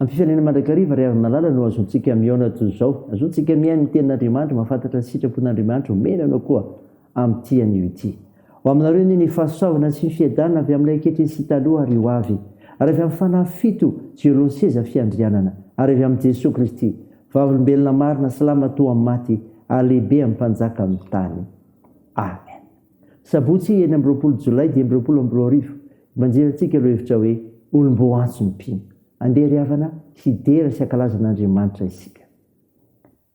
Amin'ny fifanena mandrakariva ry havin'Alala no azontsika mihaona toy izao. Azontsika mihaino ny tenin'Andriamanitra, mahafantatra ny sitrapon'Andriamanitra omena anao koa amin'ity anio ity. Ho aminareo anie ny fahasoavana sy ny fiadanana avy amin'ilay ankehitriny sy taloha ary ho avy, ary avy amin'ny fanahy fito izay eo alohan'ny seza fiandrianana, ary avy amin'i Jesoa Kristy, Vavolombelona marina, salama toa amin'ny maty, ary lehibe amin'ny Mpanjaka amin'ny tany. Amen. Sabotsy enina amby roapolo Jolay dimy amby roapolo amby roa arivo, Banjirantsika ireo hevitra hoe olom-boaantso ny mpino. Andeha ry havana hidera sy hankalaza an'Andriamanitra isika.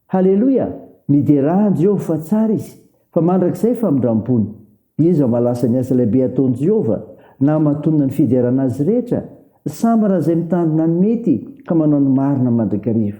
Haleloia! Miderà an'i Jehovah fa tsara izy, fa mandrakizay famindram-pony. Iza mahalasa ny asa lehibe ataon'i Jehovah, na hamatonina ny fiderana azy rehetra? Sambara izay mitandrina ny mety ka manao ny marina mandrakariva.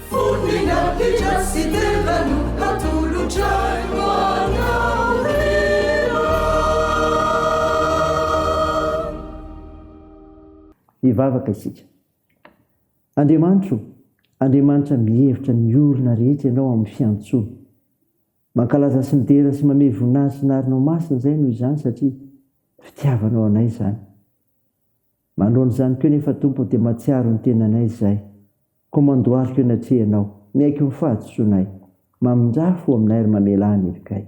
Hivavaka isika. Andriamanitro o, Andriamanitra mihevitra ny olona rehetra Ianao amin'ny fiantsoany. Mankalaza sy midera sy mamehy voninahitra ny Arinao Masina izay noho izany satria fitiavanao anay izany. Manoloana izany koa nefa Tompo dia mahatsiaro ny tenanay izahay. Koa mandohalika eo anatrehanao, miaiky ho ny fahadisoanay. Mamindrafo ho aminay ary mamelà ny hevikay.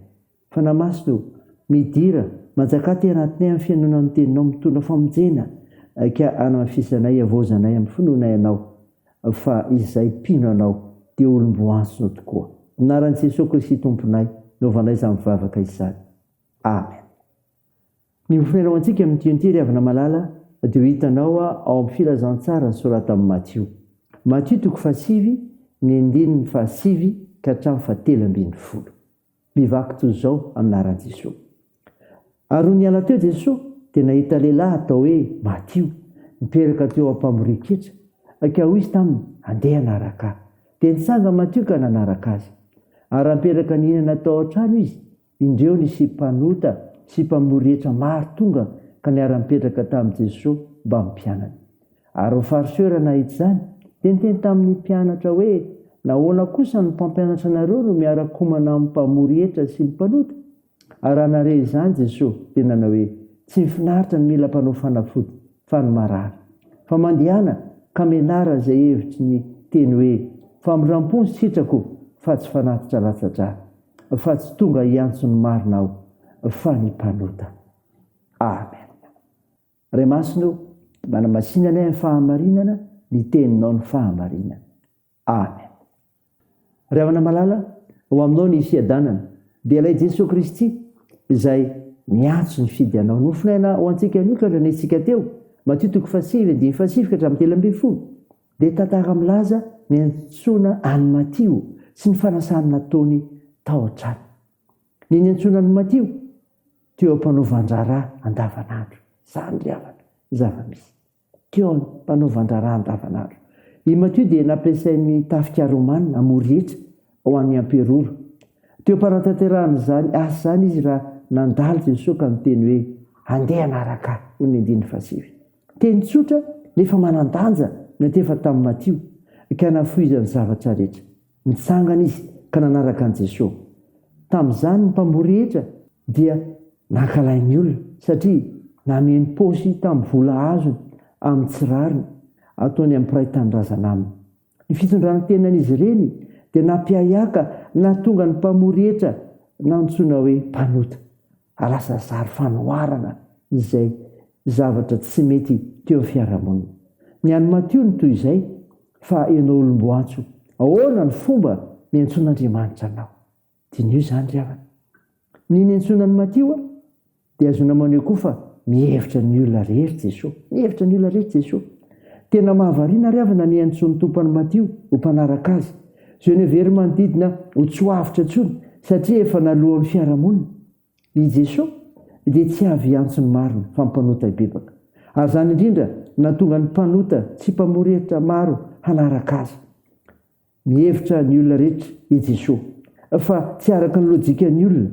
Fanahy Masina o, midira, manjaka aty anatinay amin'ny fihainoana ny Teninao mitondra famonjena ka anamafisanay, iavaozanay amin'ny finoanay Anao fa izay mpino Anao dia olom-boantso tokoa. Amin'ny anaran'i Jesoa Kristy Tomponay no hanaovanay izany vavaka izany. Amen. Ny oferao antsika amin'ny tionty ry havana malala dia ho hitanao ao amin'ny filazantsara soratan'i Matio. Matio toko fahasivy ny andininy fahasivy ka hatramin'ny fahatelo ambin'ny folo. Mivaky toy izao anaran'i Jesoa. Ary nony hiala teo Jesoa dia nahita lehilahy atao hoe Matio mipetraka teo am-pamorian-ketra ka hoy izy taminy andeha hanaraka ahy. Dia nitsanga Matio ka nanaraka azy. Ary ampetraka nihinana tao an-trano izy. Indreo nisy mpanota sy mpamory hetra maro tonga ka niara-nipetraka tamin'i Jeso mbamin'ny mpianany. Ary ny Fariseo-ra nahita izany, dia niteny tamin'ny mpianatra hoe, Nahoana kosa ny mpampianatra anareo no miara-komana amin'ny mpamory hetra sy ny mpanota? Ary raha nahare izany Jeso, dia nanao hoe, Tsy ny finaritra no mila mpanao fanafody, fa ny marary. Fa mandehana ka menarana izay hevitry ny teny hoe, Famindram-po ny sitrako, fa tsy fanatitra latsa-drà. fa tsy tonga hiantso ny marina aho fa ny mpanota. Amen. Ray Masina o, manamasina anay amin'ny fahamarinana ny teninao ny fahamarinana. Amen. Ry havana malala, ho aminao ny fiadanana, dia ilay Jesoa Kristy izay miantso ny fidy anao. Nofonaina ho antsika nioka ny reniantsika teo, Matio toko fahasivy andininy fahasivy ka hatramin'ny telo ambin'ny folo. dia tantara milaza ny niantsoana an'i Matio sy ny fanasany nataony tao an-trano. Ny niantsoana an'i Matio teo am-panaovan-draharaha andavanandro. Izany ry havana ny zava-misy. Teo am-panaovan-draharaha andavanandro. I Matio dia nampiasain'ny tafika romana hamory hetra ho an'ny amperora. Teo am-panatanterahana izany asa izany izy raha nandalo Jesosy ka niteny hoe, Andeha hanaraka ahy, hoy ny andininy fahasivy. Teny tsotra nefa manan-danja no etefa tamin'i Matio ka nafoizany zavatra rehetra. Nitsangana izy ka nanaraka an'i Jesoa. Tamin'izany ny mpamboly rehetra dia nankalain' ny olona satria nameno paosy tamin'ny vola azony amin'ny tsy rariny ataony amin'ny mpiray tanindrazana aminy. Ny fitondran-tenan'izy ireny dia nampiahiaka nahatonga ny mpamory hetra nantsoina hoe mpanota. Lasa zary fanoharana izay zavatra tsy mety teo amin'ny fiarahamonina. Ny an'i Matio no toy izay, Fa ianao olom-boantso, ahoana no fomba niantsoan'Andriamanitra anao? Diniho izany ry havana. Ny niantsoana an'i Matio a, dia ahazoana maneho koa fa mihevitra ny olona rehetra Jesoa. Mihevitra ny olona rehetra Jesoa. Tena mahavariana ry havana ny iantsoan'ny Tompo an'i Matio ho mpanaraka Azy. Izay niheverin'ny manodidina ho tsy ho avotra intsony satria efa naloan'ny fiarahamonina. I Jesoa dia tsy avy hiantso ny marina fa ny mpanota hibebaka. Ary izany indrindra no nahatonga ny mpanota tsy mpamory hevitra maro hanaraka Azy. Mihevitra ny olona rehetra i Jesoa fa tsy araka ny lojikan'ny olona.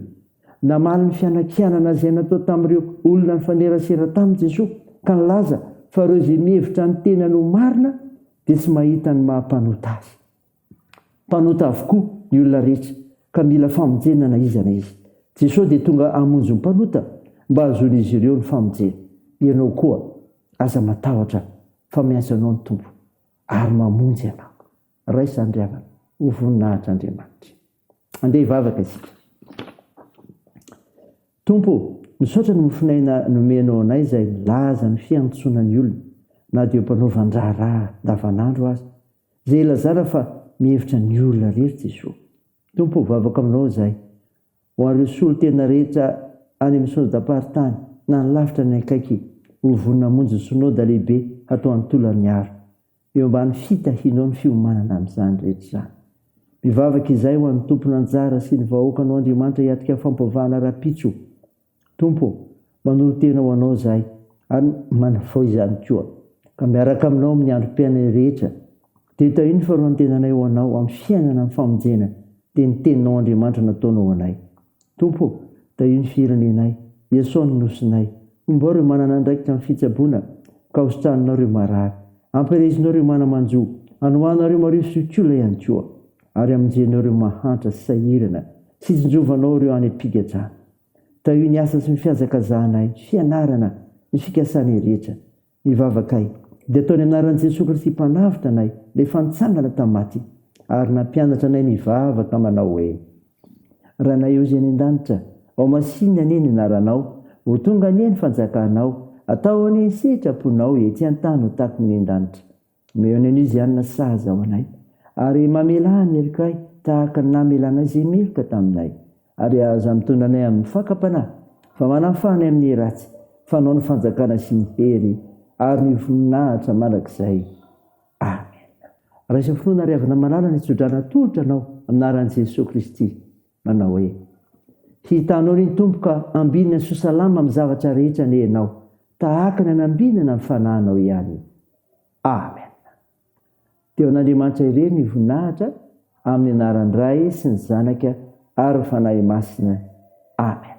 Namaly ny fianakianana izay natao tamin'ireo olona nifanerasera taminy Jesoa ka nilaza fa ireo izay mihevitra ny tenany ho marina dia tsy mahita ny maha mpanota azy. Mpanota avokoa ny olona rehetra ka mila famonjena na iza na iza. Jesoa dia tonga hamonjy ny mpanota mba hahazoan'izy ireo ny famonjena. Ianao koa aza matahotra fa miantso anao ny Tompo. ary mamonjy anao. Raiso andriavana ho voninahitr'Andriamanitra. Andeha hivavaka isika. Tompo ô, misaotra ny mofon'aina nomenao anay izay milaza ny fiantsonan'ny olona, na dia eo am-panaovan-draharaha andavanandro aza, izay ilazana fa mihevitra ny olona irery Jesoa. Tompo ô, vavako aminao izay. Ho ary ny solontena rehetra any amin'ny Synodam-paritany na any lavitra ny akaiky ho vonona hamonjy ny Synoda lehibe hatao any Tolagnaro. Eo ambany fitahianao ny fiomanana amin'izany rehetra izany. Mivavaka izay ho an'ny tompon'anjara sy ny vahoakanao Andriamanitra hiatrika fampivavahana rahampitso. Tompo ô, manolo-tena ho Anao izahay ary manafao izany koa, ka miaraka aminao amin'ny androm-piainanay rehetra, dia tahio ny fanoloran-tenanay ho Anao amin'ny fiainana amin'ny famonjena, dia ny Teninao Andriamanitra nataonao ho anay. Tompo ô, tahio ny firenenay, Iasao ny Nosinay, hombao ireo manana andraikitra amin'ny fitsaboana, ka hositraninao ireo marary, ampirehezinao ireo mana-manjo, anohanao ireo marivo sy olon-kiola ihany koa. ary hamonjenao ireo mahantra sy sahirana sy hitsinjovanao ireo any am-pigajana. Tahio ny asa sy ny fihazakazahanay, ny fianarana, ny fikasanay rehetra. Ny vavakay dia ataony anaran'i Jesoa Kristy Mpanavotra anay rehefa nitsangana tamin'ny maty ary nampianatra anay nivavaka manao hoe, Ranay ao izay any an-danitra, ao masina anie ny anaranao, ho tonga anie ny fanjakanao, atao anie ny sitraponao ety an-tany ho takon'ny any an-danitra. Omeo anay ny Zianina sahaza ho anay, ary mamelà ny helokay tahaka ny namelanay izay meloka taminay, ary aza mitondra anay amin'ny fakam-panahy, fa manafaha anay amin'ny ratsy, fa anao ny fanjakana sy ny hery ary ny voninahitra mandrakizay. Amena. Raiso finoana ary avona malala ny tso-drano atolotra anao amin'ny anaran'i Jesoa Kristy. Manao hoe, Hitanao ry Tompo ka ambinina sy ho salama amin'ny zavatra rehetra anie ianao, tahaka ny anambinana ny fanahinao ihany. Amen. Dia ho an'Andriamanitra irery ny voninahitra amin'ny anaran'ny Ray sy ny Zanaka ary ny Fanahy Masina. Amen.